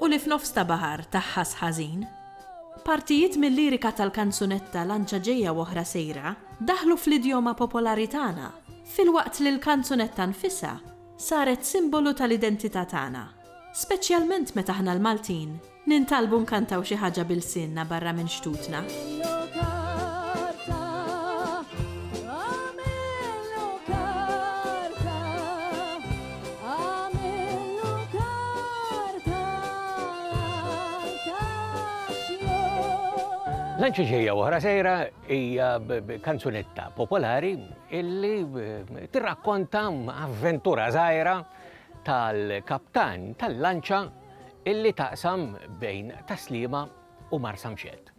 u li f'nofs ta' baħar taħħas ħażin. Partijiet mil-lirika tal-kanzunetta Lanċa Ġejja u Oħra Sejra daħlu fl-idjoma popolari tagħna, filwaqt li l-kanzunetta nfisha saret simbolu tal-identità tagħna, speċjalment meta aħna l-Maltin nintalbu nkantaw xi ħaġa b'ilsienna barra minn xtutna. Lanċi ġejja oħra sejra hija kanzunetta popolari illi tirrakkonta avventura żgħira tal-kaptan tal-lanċa illi taqsam bejn taslima u marsamxed.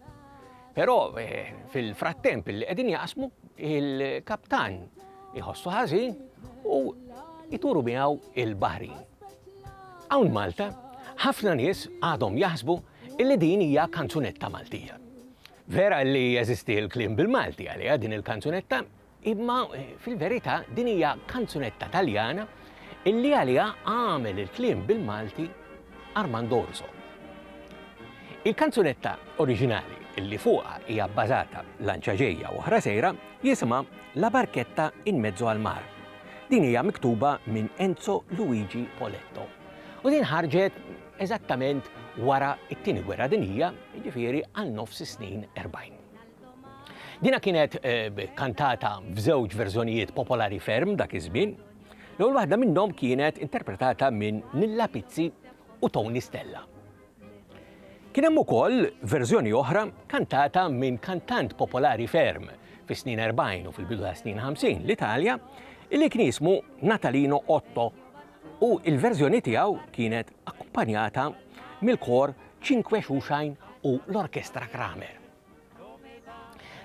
Però eh, fil-frattemp li qegħdin jaqsmu il-kaptan iħossu ħażin u jturu miegħu il-bahri. Hawn Malta, ħafna nies għadhom jaħsbu illi din hija kanzunetta Maltija. Vera li jeżisti l-klim bil-Malti għalija din il-kanzunetta Imma fil-verità din hija kanzunetta Taljana illi għaliha għamel il-kliem bil-Malti Armando Orso. Il-kanzunetta oriġinali illi fuqha hija bbażata lanċa ġejja u oħra sejra jisimha La barchetta in mezzo al mar. Din hija miktuba minn Enzo Luigi Poletto. U din ħarġet eżattament wara t-Tieni Gwerra Dinjija, jiġifieri għal nofs is-snin 40. Dina kienet eh, kantata f'żewġ verżjonijiet popolari ferm dak iż-żmien. L-ewwel waħda minnhom kienet interpretata minn Nilla Pizzi u Tony Stella. Kien hemm ukoll verżjoni oħra kantata minn kantant popolari ferm fis-snin 40 u fil-bidu ta' snin 50 l-Italja li kien jismu Natalino Otto u il-verżjoni tiegħu kienet akkumpanjata mill-kor Cinque Xuxajn u l-Orkestra Kramer.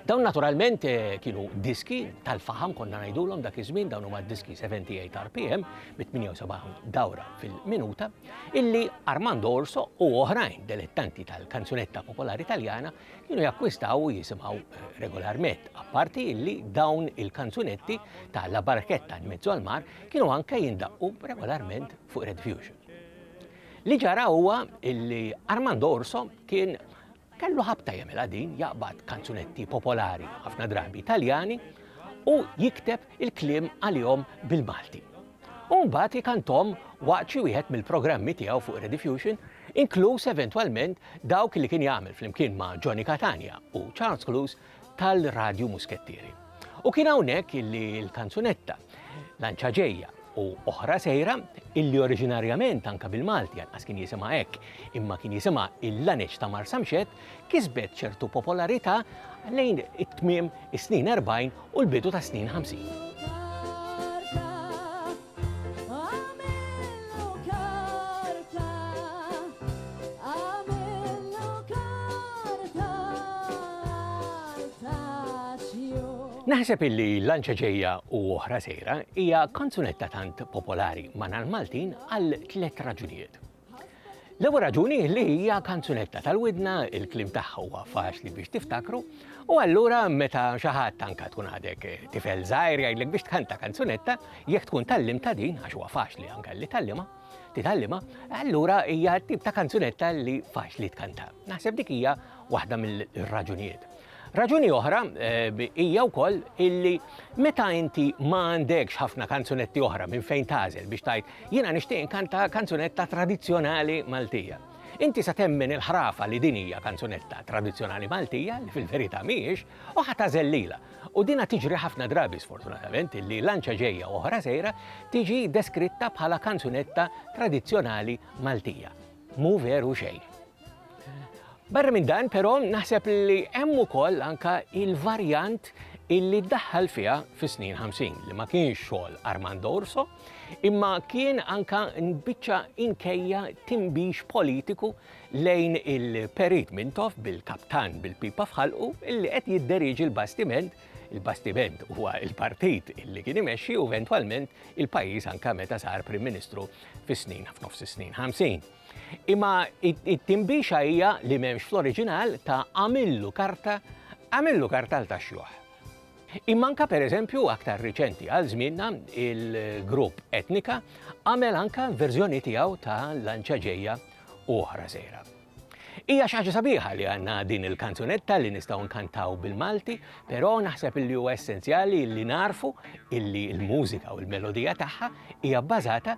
Dawn naturalment eh, kienu diski tal-faham konna ngħidulhom dak iż-żmien dawn huma diski 78 RPM bi 78 dawra fil-minuta illi Armando Orso u oħrajn delettanti tal-kanzunetta popolari Taljana kienu jakkwistaw u jisimgħu eh, regolarment apparti illi dawn il-kanzunetti ta' La Barchetta in mezzo al mar kienu anke jindaqqu regolarment fuq Red Fusion. Li ġara huwa illi Armando Orso kien Kellu ħabta jagħmilha din, jaqbad kanzunetti popolari, ħafna drabi Taljani, u jikteb il-kliem għalihom bil-Malti. U mbagħad ikanthom waqt xi wieħed mill-programmi tiegħu fuq Rediffusion, inkluż eventwalment dawk li kien jagħmel flimkien ma' Johnny Catania u Charles Clouse tal-Radju Muskettieri. U kien hawnhekk illi l-kanzunetta Lanċa ġejja u oħra sejra illi oriġinarjament anka bil-Malti anqas kien jisimha hekk imma kien jisimha il-laneċ ta' Marsamxett kisbet ċertu popolarità lejn it-tmiem is-snin 40 u l-bidu tas-snin 50. Naħseb illi lanċa ġejja u oħra sejra hija kanzunetta tant popolari ma' l-Maltin għal tliet raġunijiet. L-ewwel raġuni li hija kanzunetta tal-widna, il-kliem tagħha huwa faċli biex tiftakru, u allura meta xi ħadd anke tkun għadek eh, tifel żgħir jgħidlek biex tkanta kanzunetta, jekk tkun tallim ta' din għax huwa faċli anke li tallima, titallima, allura hija tip ta' kanzunetta li faċli tkanta. Naħseb dik hija waħda mill-raġunijiet. Raġuni oħra hija wkoll illi meta inti ma għandekx ħafna kanzunetti oħra minn fejn tagħżel biex tgħid jiena nixtieq inkanta kanzunetta tradizzjonali Maltija. Inti se temmen il-ħrafa li din hija kanzunetta tradizzjonali Maltija li fil-verità mhijiex u ħa tagħżel lilha. U dinha tiġri ħafna drabi sfortunatament illi lanċa ġejja u oħra sejra tiġi deskritta bħala kanzunetta tradizzjonali Maltija. Mhu veru xejn. Barra minn dan, però, naħseb li hemm ukoll anka il-varjant illi daħħal fiha fis-snin 50 li ma kienx xogħol Armando Urso, imma kien anka nbiċċa inkejja timbix politiku lejn il-perit Mintoff bil-kaptan bil-pipa fħalqu illi qed jidderiġi l-bastiment il-bastiment huwa il-partit illi kien imexxi u eventwalment il-pajjiż anka meta sar Prim Ministru fis-snin f'nofs is-snin 50. Imma it-tinbixa hija li m'hemmx fl-oriġinal ta' għamillu karta, għamillu kartal ta' xjuħ. Imma anka pereżempju aktar riċenti għal żmienna il-grupp Etnika għamel anka verżjoni tiegħu ta' lanċa ġejja u oħra sejra. Hija xi ħaġa sabiħa li għandna din il-kanzunetta li nistgħu nkantaw bil-Malti, però naħseb li huwa essenzjali li narfu illi l-mużika u l-melodija tagħha hija bbażata